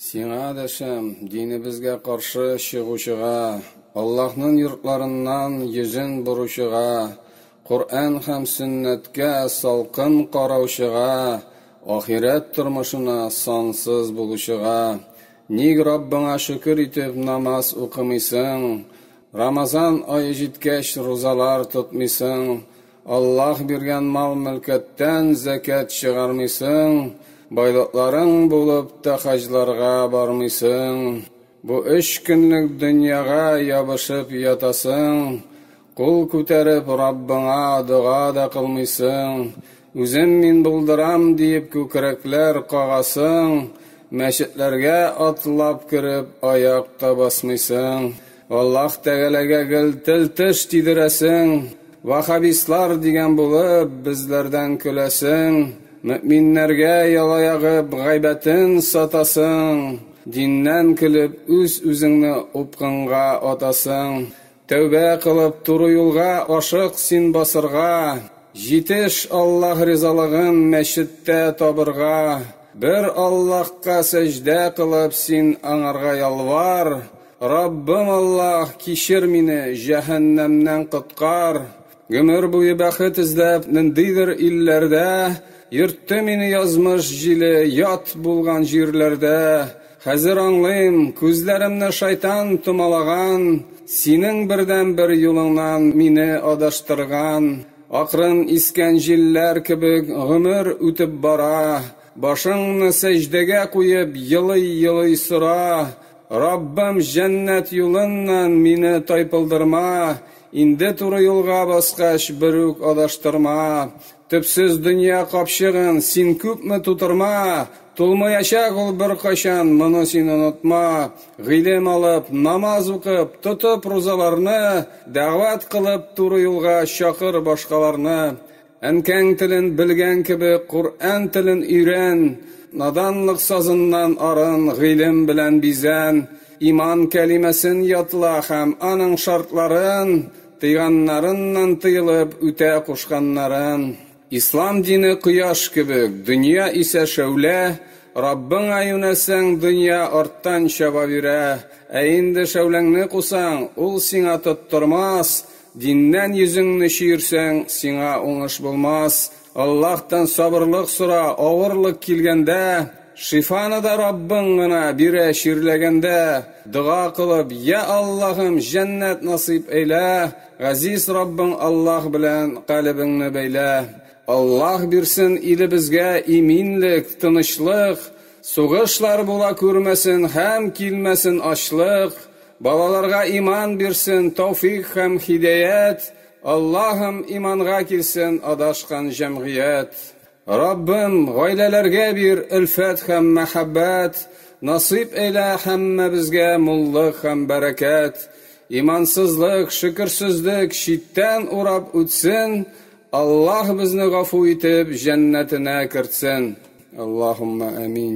Сиңа дәшәм, динебезгә каршы чыгучыга, Аллаһның йортларыннан йөзен боручыга, Коръән һәм сөннәткә салкын караучыга, ахирәт тормышына сансыз булучыга, ник Раббыңа шөкер итеп намаз укымыйсың, Рамазан ае җиткәч рузалар тотмыйсың, Аллаһ биргән мал-мөлкәттән зәкят чыгармыйсың, байлыкларың булып та хаҗларга бармыйсың. Бу өч көнлек дөньяга ябышып ятасың, кул күтәреп Раббыңа дога да кылмыйсың, үзем мин булдырам диеп күкрәкләр кагасың, мәчетләргә атлап кереп аяк та басмыйсың. Аллах Тәгаләгә гел тел-теш тидерәсең, ваһһабистлар дигән булып, безләрдән көләсең, мөэминнәргә ялаягып гайбәтен сатасың, диннән көлеп үз-үзеңне упкынга атасың. Тәүбә кылып, туры юлга ашык син басырга, җитеш Аллах ризалыгын мәчеттә табырга, бер Аллахка сәҗдә кылып син Аңарга ялвар, Раббым Аллаһ, кичер мине, җәһәннәмнән коткар. Гомер буе бәхет эзләп, ниндидер илләрдә йөртте мине язмыш җиле, ят булган җирләрдә. Хәзер аңлыйм, күзләремне шайтан томалаган, синең бердәнбер юлыңнан мине адаштырган. Акрын искән җилләр кебек гомер үтеп бара, башыңны сәҗдәгә куеп, елый-елый сора, Раббым, җәннәт юлыннан мине тайпылдырма, Инде туры юлга баскач, берүк адаштырма. Төпсез дөнья капчыгын Син күпме тутырма, Тулмаячак ул беркайчан, моны син онытма. Гыйлем алып, намаз укып, тотып рузаларны, Дәгъват кылып, туры юлга чакыр башкаларны. Әнкәң телен белгән кебек, Коръән телен өйрән, Наданлык сазыннан арын, Гыйлем белән бизән. Иман кәлимәсен ятла Һәм аның шартларын, Тыйганнарыннан тыелып, Үтә кушканнарын. Ислам дине кояш кебек, Дөнья исә шәүлә, Раббыңа юнәлсәң, дөнья Арттан чаба бирә. Ә инде шәүләңне кусаң, Ул сиңа тоттырмас, Диннән йөзеңне чөерсәң, сиңа уңыш булмас. Аллаһтан сабырлык сора, авырлык килгәндә, шифаны да Раббың гына бирә Чирләгәндә, дога кылып, Йә Аллаһым, җәннәт насыйп әйлә, Газиз Раббың Аллаһ белән калебеңне бәйлә. Аллаһ бирсен илебезгә иминлек, тынычлык, сугышлар була күрмәсен һәм килмәсен ачлык. Балаларга иман бирсен, тауфик һәм хидәят, Аллаһым иманга килсен адашкан җәмгыять. Раббым, гаиләләргә бир өлфәт һәм мәхәббәт, насыйп әйлә һәммәбезгә муллык һәм бәрәкәт. Имансызлык, шөкерсезлек читтән урап үтсен, Аллаһ безне гафу итеп җәннәтенә кертсен. Аллаһуммә әмин.